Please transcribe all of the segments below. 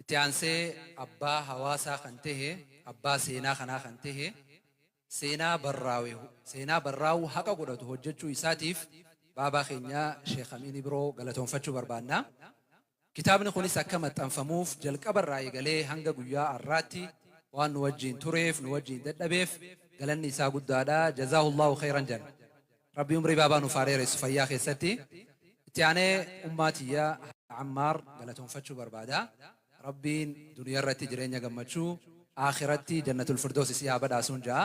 Itti aansee abbaa hawaasaa kan tahe, abbaa seenaa kanaa kan tahe, seenaa barraawe, seenaa barraawuu haqa godhatu hojjachuu isaatiif baabaa keenya Sheekh Amiin Ibroo galatoomfachuu barbaanna. Kitaabni kunis akka maxxanfamuuf jalqaba irraa eegalee hanga guyyaa arraatti waan nu wajjiin tureef, nu wajjiin dadhabeef galanni isaa guddaadha. Jazaahullahu kheyran janna. Rabbi umrii baabaa nuuf haa dheeressu fayyaa keessatti. Itti aanee ummaa tiyya Haadha Ammaar galatoomfachuu barbaada. Rabbiin duniyarratti jireenya gammachuu, Aakhiratti Jannatul Firdoos isii haa badhaasuun ja'a.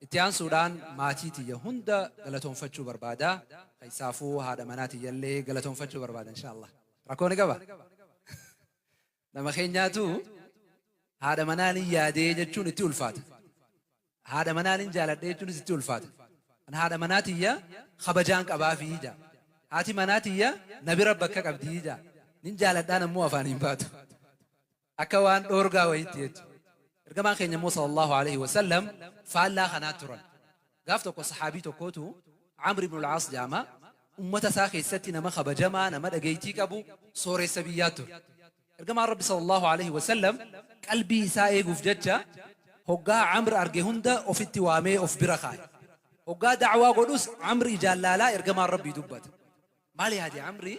Itti aansuudhaan maatii tiyya hunda galatoomfachuu barbaada. Keessaafuu haadha manaa tiyyallee galatoomfachuu barbaada inshaa Allaah. Rakkoo ni qaba? Nama keenyaatu haadha manaanin yaadee jechuun itti ulfaata. Haadha manaanin jaaladhe jechuunis itti ulfaata. An haadha manaa tiyya kabajaan qabaafii ja'a. Haati manaa tiyya na bira bakka qabdii ja'a. Nin jaaladhaan ammoo afaan hin baatu. Akka waan dhoorgaa wayiitti jechu. Ergamaan keenya immoo sallallahu alaihi wasallam faallaa kanaa turan. Gaaf tokko sahaabii tokkootu Amr ibn al-Aas jedhama. Ummata isaa keessatti nama kabajamaa, nama dhageettii qabu, sooressa biyyaa ture. Ergamaan Rabbi sallallahu alaihi wasallam qalbii isaa eeguuf jecha hoggaa Amr arge hunda ofitti waamee of bira kaa'e. Hoggaa da'waa godhus Amr ijaan laalaa ergamaan Rabbii dubbata. Maal yaade Amri?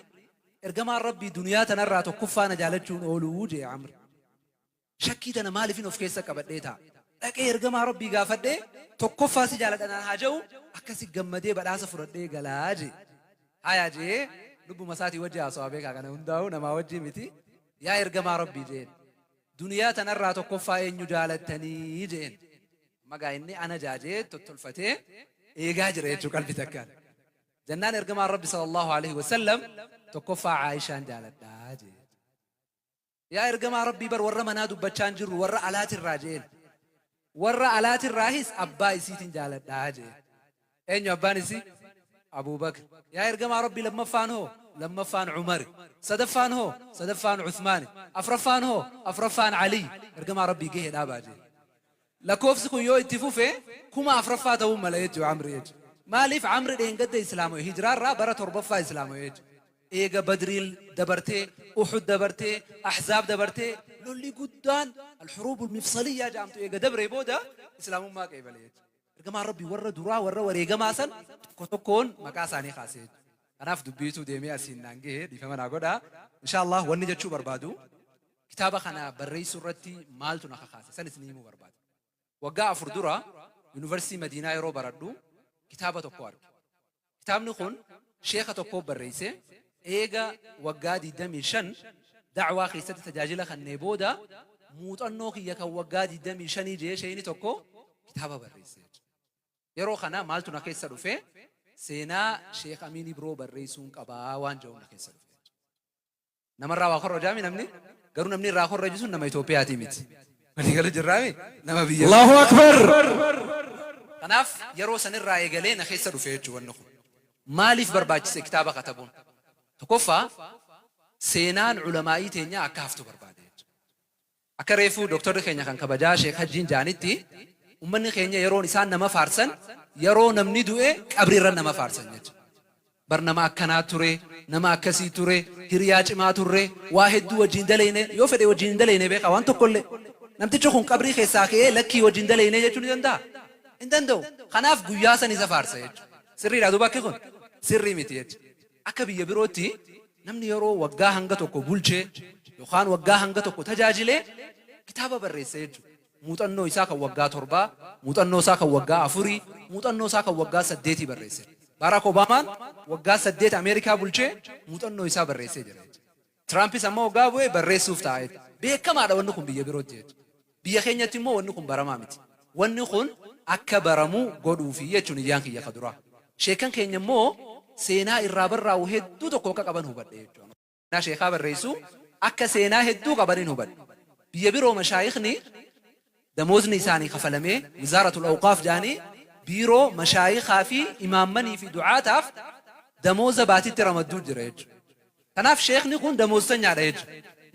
Ergamaan Rabbii duniyaa tanarraa tokkoffaa na jaalachuun ooluu jee Amr. Shakkii tana maalifin of keessa qabadhee taa'a? Dhaqee Ergamaa Rabbii gaafadhee tokkoffaa si jaaladha naan haa ja'u akkasi gammadee badhaasa fudhadhee gala je'e. Haya je'ee lubbuma isaatii wajji haasawa beekaa kana hundaa'uu namaa wajjii miti. Yaa Ergamaa Rabbii je'een. Duniyaa tanarraa tokkoffaa eenyu jaalattanii je'een. Amma gaa inni ana ja'a je'ee tottolfatee eegaa jira jechuu qalbi takkaan. Jannaan Ergamaan Rabbi sallallahu alaihi wasallam tokkoffaa Aayishaan jaaladha je'e. Yaa ergamaa Rabbii bar warra manaa dubbachaa hin jirru warra alaatirraa je'een. Warra alaatirraahis abbaa isiitin jaaladha je'een. Eenyu abbaan isii? Abuu Bakr. Yaa ergamaa Rabbii lammaffaan hoo? Lammaffaan Umari. Sadaffaan hoo? Sadaffaan Usmaani. Afraffaan hoo? Afraffaan Aliyyi. Ergamaa Rabbii gahee dhaabaa je'een. Lakkoofsi kun yoo itti fufe kuma afraffaa ta'uu mala jechu Amri H. Maaliif Amri dheengadda islaamawe hijraa irraa bara torbaffaa islaamawe H. Eega Badriil dabartee, Uhud dabartee, Ahzaab dabartee lolli guddaan Al-Huruubul Mifsaliyyaa ja'amtu eega dabree booda islaamummaa qeebale H. Ergamaan Rabbii warra duraa warra wareegamaa san tokko tokkoon maqaa isaanii kaase H. Kanaaf dubbiitu deemee asiin naan gahe dhiifama naa godhaa. Inshaa Allaah wanni jechuu barbaadu Kitaaba kana barreessuu irratti maaltu na kakaase? San isinii himuu barbaada. Waggaa afur dura Yunivarsiitii Madiinaa yeroo baradhu kitaaba tokko arge. Kitaabni kun sheeka tokkoo barreesse, eega waggaa 25 da'waa keessatti tajaajila kannee booda muuxannoo kiyya kan waggaa 25 jee sheeyni tokko kitaaba barreesse. Yeroo kana maaltu na keessa dhufe? Seenaa Sheek Amiin Ibroo barreessuun qaba waan je'uun na keessa dhufe. Namarraa waa korrojaami namni garuu namni irraa korroju sun nama Itoophiyaatii miti. Walii galu jirraami nama biyya Allahu biraa. Akbar. Kanaaf yeroo sanirraa eegalee na keessa dhufe jechuu wanni kun. Maaliif barbaachise kitaaba katabuun? Tokkoffaa seenaan ulamaa'ii teenyaa akka haftu barbaade jechuudha. Akka reefuu Doktorri keenya kan kabajaa Sheek Hajjiin ja'anitti, ummanni keenya yeroon isaan nama faarsan yaroo namni du'e qabri irra nama faarsan jecha. Bar nama akkanaa ture, nama akkasii ture, hiriyaa cimaa turre, waa hedduu wajjiin daleyne, yoo fedhe wajjiin hin daleyne beekhaa waan tokkollee. Namtichi kun qabrii keessaa ke'ee lakkii wajji hin daleyne jechuu ni danda'a? Hin danda'u. Kanaaf guyyaa san isa faarsa jechu. Sirriidhaa duuba akki kun? Sirrii miti jecha. Akka biyya birootti namni yeroo waggaa hanga tokko bulchee yookaan waggaa hanga tokko tajaajile kitaaba barreessa jechuudha. Muuxannoo isaa kan waggaa torbaa, muuxannoo isaa kan waggaa afurii, muuxannoo isaa kan waggaa saddeetii barreessa jechuudha. Baaraak Obaamaan waggaa saddeet Ameerikaa bulchee muuxannoo isaa barreessee jira jechuudha. Tiraampis amma hoggaa bu'e barreessuuf ta'a jette. Beekamaadha wanni kun biyya birootti jette. Biyya keenyatti immoo wanni kun baramaa miti. Wanni kun akka baramu godhuufi jechuun iyyaan kiyya ka duraa. Sheekkan keenya immoo seenaa irraa barraa'u hedduu tokko akka qaban hubadhe jechuun. Seenaa sheekhaa barreessu akka seenaa hedduu qabanin hubadhe. Biyya biroo mashaayikhni damoozni isaanii kafalamee Wizaaratul Awqaaf jedhanii biiroo mashaayikhaa fi imaammanii fi du'aataaf damooza baatitti ramadduu jira jechuun. Kanaaf sheekni kun damooztanyaadha jechu.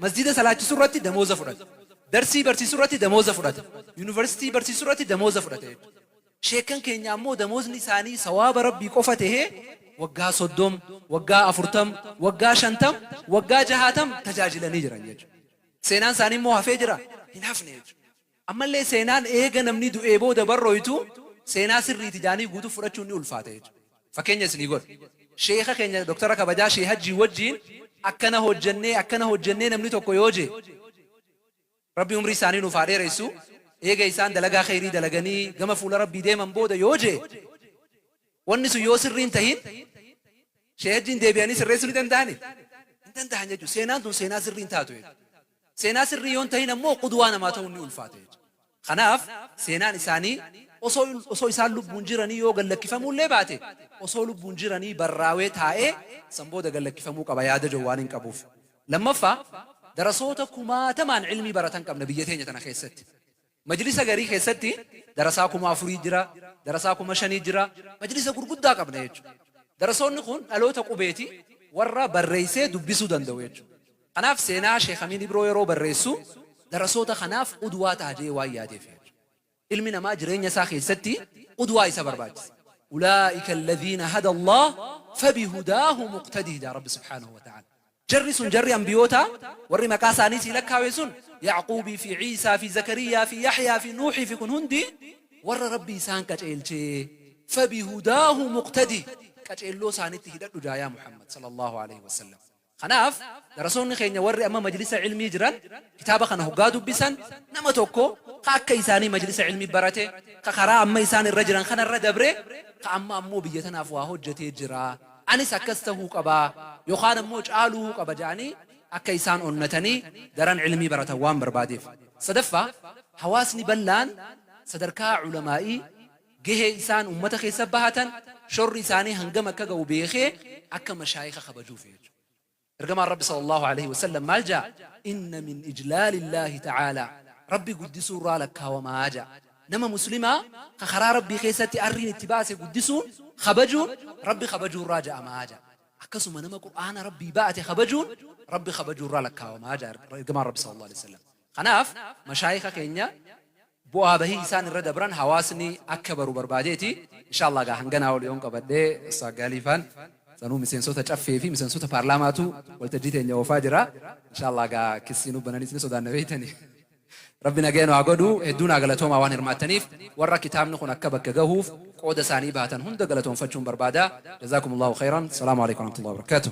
Masjiida salaachisurratti damooza fudhata. Darsii barsiisurratti damooza fudhata. Yunivarsitii barsiisurratti damooza fudhata jechu. Sheekkan keenya ammoo damoozni isaanii sawaaba Rabbii qofa tahee waggaa 30, waggaa 40, waggaa 50, waggaa 60 tajaajilanii jiran jechu. Seenaan isaanii immoo hafee jiraa? Hin hafne jechu. Ammallee seenaan eega namni du'ee booda barrooytu seenaa sirriiti jaanii guutuu fudhachuun ni ulfaata jechuudha. Fakkeenya isinii godha. Sheekha keenya Doktara kabajaa Sheeh Hajjii wajjiin akkana hojjannee akkana hojjannee namni tokko yoo jee, Rabbi umrii isaanii nuuf haa dheereysu, eega isaan dalagaa kheyrii dalaganii gama fuula Rabbii deeman booda yoo jee, wanni sun yoo sirrii hin tahin Sheeh Hajjiin deebi'anii sirreessuu ni danda'anii? Hin dandahan jechuudha. Seenaan tun seenaa sirrii hin taatu jechuudha. Seenaa sirrii yoo hin tahin ammoo qudwaa namaa tahuun ni ulfaata jecha. Kanaaf seenaan isaanii osoo osoo isaan lubbuun jiranii yoo gad lakkifamuu illee baate osoo lubbuun jiranii barraawee taa'ee san booda gad lakkifamuu qaba yaada jedhu waanin qabuuf. Lammaffaa darasoota kumaatamaan ilmii baratan qabna biyya teenya tana keessatti. Majlisa garii keessatti darasaa kuma afurii jira, darasaa kuma shanii jira, majlisa gurguddaa qabna jechu. Darasoonni kun dhaloota qubeeti warra barreessee dubbisuu danda'u jechu. Kanaaf seenaa Sheikh Amiin Ibroo yeroo barreessu darasoota kanaaf qudwaa taha jedhee waan yaadeef jechu. Ilmi namaa jireenya isaa keessatti qudwaa isa barbaachisa. Ulaa'ika alladhiina hada Allaah fabihudaahu muqtadih jedha Rabbi subhaanahu wa ta'aala. Jarri sun, jarri Anbiyootaa, warri maqaa isaanii sii lakkaawe sun, Ya'quubii fi Iisaa fi Zakariyyaa fi Yahyaa fi Nuuhii fi kun hundi warra Rabbi isaan qaceelchee. Fabihudaahu muqtadih. Qaceelloo isaanitti hidhadhu jaa yaa Muhammad, Sallallaahu aleyhi wa sallam. Kanaaf, darasoonni keenya warri amma majlisa ilmii jiran, kitaaba kana hoggaa dubbisan, nama tokko ka akka isaanii majlisa ilmii barate, ka karaa amma isaan irra jiran kana irra dabre, ka amma ammoo biyya tanaaf waa hojjatee jira, anis akkas tahuu qaba yokaan ammoo caaluu qaba ja'anii akka isaan onnatanii daran ilmii baratan waan barbaadeef. Sadaffaa, hawaasni bal'aan sadarkaa ulamaa'ii gahee isaan ummata keessa bahatan shorri isaanii hangam akka gahu beekee akka mashaayikha kabajuufi jechuudha. Ergamaan Rabbi sallallaahu aleyhi wasallam maal ja'a? Inna min ijlaalillaahi ta'aalaa, Rabbi guddisuurraa lakkaawama ja'a. Nama muslimaa ka karaa Rabbii keessatti arriin itti baase guddisuun, kabajuun, Rabbi kabajuurraa ja'ama ja'a. Akkasuma nama Qur'aana Rabbii ba'ate kabajuun, Rabbi kabajuurraa lakkaawama ja'a Ergamaan Rabbi sallallaahu aleyhi wasallam. Kanaaf mashaayikha keenya bu'aa bahii isaan irra dabran hawaasni akka baru barbaadeeti. Inshaa Allaah egaa hanganaa ol yoon qabadhe Ustaaz Gaalii faan sanuu miseensota Caffee fi miseensota Paarlaamaatu waltajjii teenya oofaa jira. Inshaa Allaah egaa kissii nu bananiis ni sodaanna beektani. Rabbi nagaya nu haa godhu. Hedduu naa galatoomaa waan hirmaattaniif. Warra kitaabni kun akka bakka gahuuf qooda isaanii bahatan hunda galatoomfachuun barbaada. Jazaakumullaahu khayran. Salaamu Aleykum Warahmatullaahi Wabarakaatuh.